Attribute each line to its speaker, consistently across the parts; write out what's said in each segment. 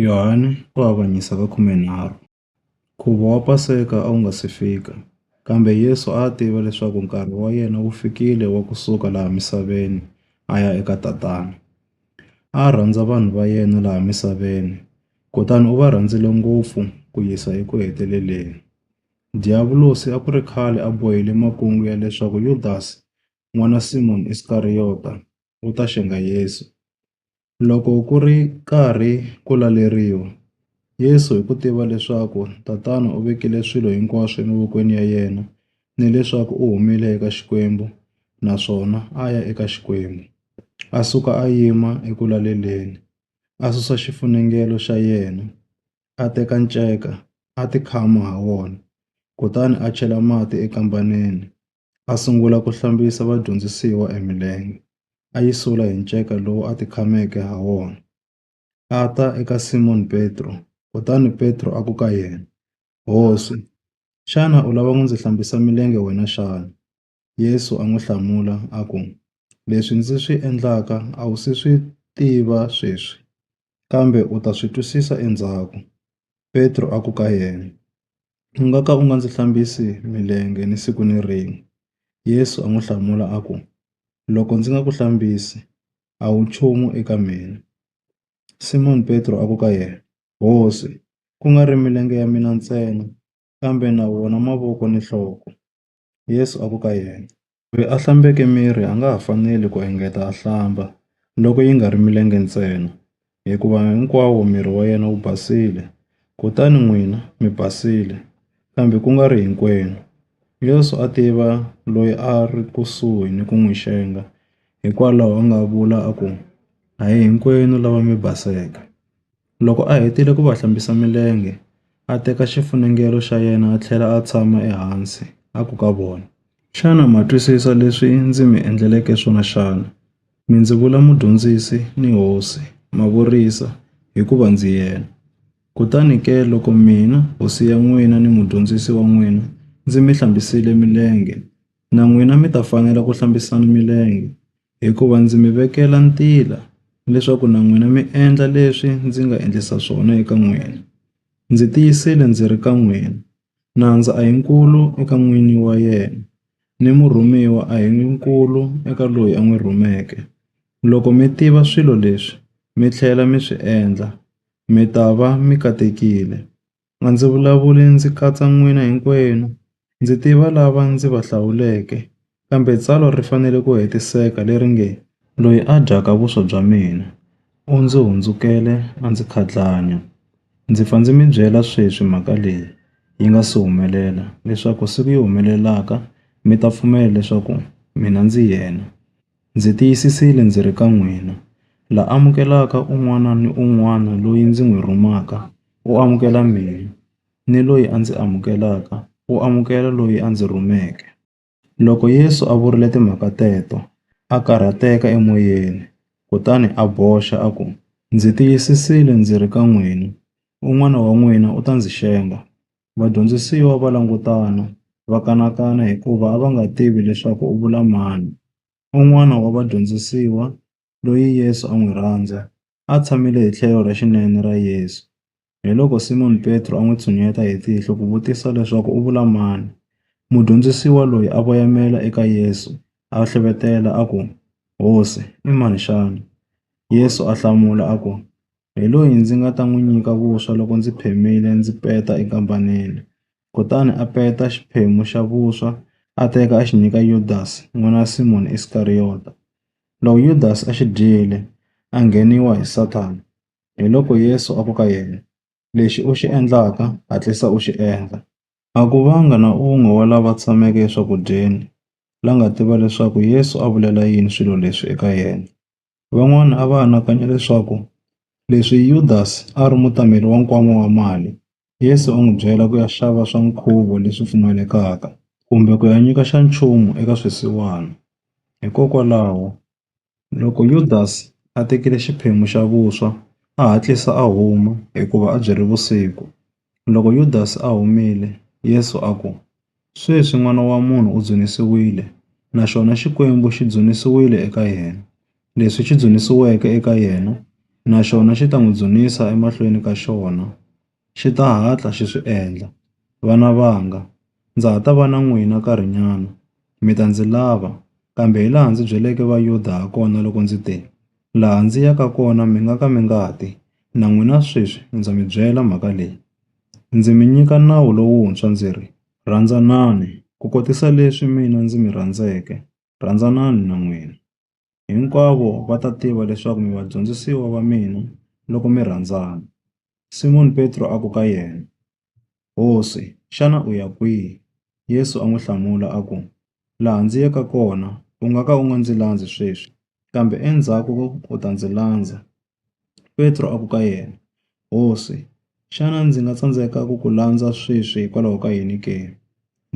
Speaker 1: Yohane u avanyisa ka khumenharhu. Nkhuvo wa Paseka a wu nga si fika, kambe Yesu a a tiva leswaku nkarhi wa yena wu fikile wa ku suka laha misaveni a ya eka Tatana. A a rhandza vanhu va yena laha misaveni, kutani u va rhandzile ngopfu ku yisa eku heteleleni. Diyavulosi a ku ri khale a bohile makungu ya leswaku Yudasi, n'wana Simoni Iskariyota, u ta xenga Yesu. Loko ku ri karhi ku laleriwa, Yesu hi ku tiva leswaku Tatana u vekile swilo hinkwaswo emavokweni ya yena ni leswaku u humile eka Xikwembu naswona a ya eka Xikwembu, a suka a yima eku laleleni, a susa xifunengelo xa yena, a teka nceka, a tikhama ha wona, kutani a chela mati ekambaneni. a sungula ku hlambisa vadyondzisiwa e milenge, a yi sula hi nceka lowu a tikhameke ha wona. A ta eka Simon Petro, kutani Petro a ku ka yena, Hosi, xana u lava ku ndzi hlambisa milenge wena xana? Yesu a n'wi hlamula a ku, Leswi ndzi swi endlaka a wu si swi tiva sweswi, kambe u ta swi twisisa endzhaku. Petro a ku ka yena, U nga ka u nga ndzi hlambisi milenge ni siku ni rin'we. Yesu a n'wi hlamula a ku, Loko ndzi nga ku hlambisi, a wu nchumu eka mina. Simoni Petro a ku ka yena, Hosi, ku nga ri milenge ya mina ntsena, kambe na wona mavoko ni nhloko. Yesu a ku ka yena, Loyi a hlambeke miri a nga ha faneli ku engeta a hlamba, loko yi nga ri milenge ntsena, hikuva hinkwawo miri wa yena wu basile. Kutani n'wina mi basile, kambe ku nga ri hinkwenu. Yesu a tiva loyi a a ri kusuhi ni ku n'wi xenga, hikwalaho a nga vula a ku, A hi hinkwenu lava mi baseke. Loko a hetile ku va hlambisa milenge, a teka xifunengelo xa yena a tlhela a tshama ehansi, a ku ka vona, Xana ma twisisa leswi ndzi mi endleleke swona xana? Mi ndzi vula Mudyondzisi ni Hosi, ma vurisa, hikuva ndzi yena. Kutani ke loko mina, Hosi ya n'wina ni Mudyondzisi wa n'wina, ndzi mi hlambisile milenge, na n'wina mi ta fanela ku hlambisana milenge, Hikuva ndzi mi vekela ntila leswaku na n'wina mi endla leswi ndzi nga endlisa swona eka n'wina. Ndzi tiyisile ndzi ri ka n'wina, Nandza a hi nkulu eka n'wini wa yena, ni murhumiwa a hi nkulu eka loyi a n'wi rhumeke. Loko mi tiva swilo leswi mi tlhela mi swi endla, mi ta va mi katekile. A ndzi vulavuli ndzi katsa n'wina hinkwenu, ndzi tiva lava ndzi va hlawuleke. Kambe tsalwa ri fanele ku hetiseka leri nge, Loyi a dyaka vuswa bya mina, u ndzi hundzukele a ndzi khatlanya. Ndzi pfa ndzi mi byela sweswi mhaka leyi yi nga si humelela, leswaku siku yi humelelaka mi ta pfumela leswaku mina ndzi yena. Ndzi tiyisisile ndzi ri ka n'wina, la amukelaka un'wana ni un'wana loyi ndzi n'wi rhumaka, u amukela mina, ni loyi a ndzi amukelaka, u amukela loyi a ndzi rhumeke. Loko Yesu a vurile timhaka teto, a karhateka emoyeni, kutani a boxa, a ku, Ndzi tiyisisile ndzi ri ka n'wina, un'wana wa n'wina u ta ndzi xenga. Vadyondzisiwa va langutana, va kanakana hikuva a va nga tivi leswaku u vula mani. Un'wana wa vadyondzisiwa, loyi Yesu a n'wi rhandza, a tshamile hi tlhelo ra xinene ra Yesu. Hiloko Simoni Petro a n'wi tshuneta hi tihlo ku vutisa leswaku u vula mani. Mudyondzisiwa loyi a voyamela eka Yesu a hlevetela a ku, Hosi, i mani xana? Yesu a hlamula a ku, hi loyi ndzi nga ta n'wi nyika vuswa loko ndzi phamile ndzi peta enkambanini. Kutani a peta xiphemu xa vuswa a teka a xi nyika Yudasi n'wana wa Simoni Iskariyota. Loko Yudasi a xi dyile, a ngheniwa hi Sathana. Hiloko Yesu a ku ka yena, Lexi u xi endlaka, hatlisa u xi endla. A ku vanga na un'we wa lava tshameke eswakudyeni la nga tiva leswaku Yesu a vulela yini swilo leswi eka yena. Van'wana a va anakanya leswaku leswi Yudasi a ri mutameri wa nkwama wa mali, Yesu a n'wi byela ku ya xava swa nkhuvo leswi pfumalekaka kumbe ku ya nyika xa nchumu eka swisiwana. Hikokwalaho, loko Yudasi a tekile xiphemu xa vuswa, a hatlisa a huma hikuva a byi ri vusiku. Loko Yudasi a humile, Yesu a ku, Sweswi N'wana wa munhu u dzunisiwile, na xona Xikwembu xi dzunisiwile eka yena. Leswi xi dzunisiweke eka yena, na xona xi ta n'wi dzunisa emahlweni ka xona. Xi ta hatla xi swi endla. Vana vanga! Ndza ha ta va na n'wina nkarhinyana. Mi ta ndzi lava, kambe hilaha ndzi byeleke Vayuda hakona loko ndzi te, Laha ndzi yaka kona mi nga ka mi nga ti, na n'wina sweswi ndza mi byela mhaka leyi. Ndzi mi nyika nawu lowuntshwa ndzi ri, Rhandzanani, kukotisa leswi mina ndzi mi rhandzeke, rhandzanani na n'wina. Hinkwavo va ta tiva leswaku mi vadyondzisiwa va mina loko mi rhandzana. Simoni Petro a ku ka yena, Hosi, xana u ya kwihi? Yesu a n'wi hlamula a ku, Laha ndzi yaka kona u nga ka u nga ndzi landzi sweswi, kambe endzhaku u ta ndzi landza. Petro a ku ka yena, Hosi, xana ndzi nga tsandzeka ku ku landza sweswi hikwalaho ka yini ke?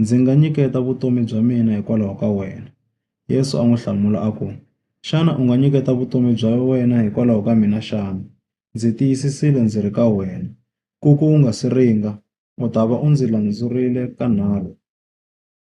Speaker 1: Ndzi nga nyiketa vutomi bya mina hikwalaho ka wena. Yesu a n'wi hlamula a ku, Xana u nga nyiketa vutomi bya wena hikwalaho ka mina xana? Ndzi tiyisisile ndzi ri ka wena, ku ku wu nga si ringa, u ta va u ndzi landzurile kanharhu.